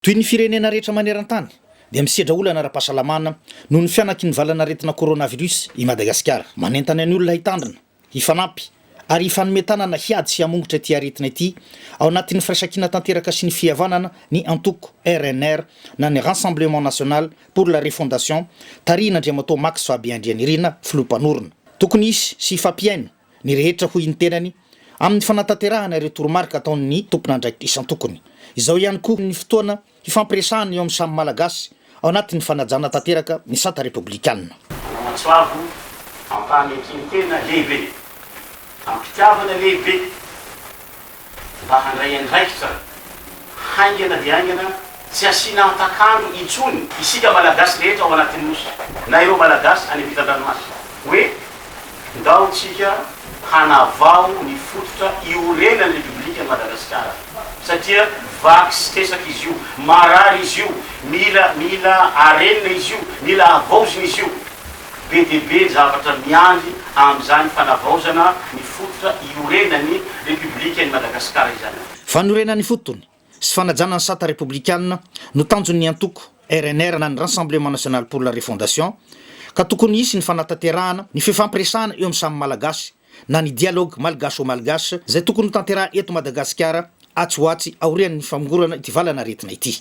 Toy ny firenena rehetra maneran-tany dia misedra olana ara-pahasalamana noho ny fihanaky ny valan'aretina coronavirus i Madagasikara. Manentana ny olona hitandrina, hifanampy ary hifanome tanana hiady sy hamongotra ity aretina ity ao anatin'ny firaisankina tanteraka sy ny fihavanana ny antoko rnr na ny Rassemblement National pour la Refondation tarihin'Andriamatoa Max Fabien Andrianirina, Filoham-panorona. Tokony hisy sy hifampihaino. ny rehetra hoy ny tenany amin'ny fanatanterahana ireo toromarika ataon'ny tompon'andraikitra isan-tokony. Izao ihany koa ny fotoana hifampiresahana eo amin'ny samy Malagasy ao anatin'ny fanajana tanteraka ny sata repoblikana. Manamatsoavo ampahan-ekin-tena lehibe, am-pitiavana lehibe. mba handray andraikitra haingana dia haingana tsy asiana antak'andro intsony isika Malagasy rehetra ao anatin'ny Nosy na ireo Malagasy any ampitan-dranomasina hoe ndao tsika hanavao ny fototra iorenan'ny Repoblikan'i Madagasikara satria vaky sy tresaka izy io, marary izy io, mila mila arenina izy io, mila havaozina izy io. Be dia be ny zavatra miandry amin'izany fanavaozana ny fototra iorenan'ny Repoblikan'i Madagasikara izany. Fanorenana ny fotony sy fanajana ny sata repoblikana no tanjon'ny antoko rnr na ny Rassemblement National pour la Refondation ka tokony hisy ny fanatanterahana ny fifampiresahana eo amin'ny samy Malagasy na ny dialogue malgache au malgache izay tokony hotanteraha eto Madagasikara atsy ho atsy aorian'ny famongorana ity valanaretina ity.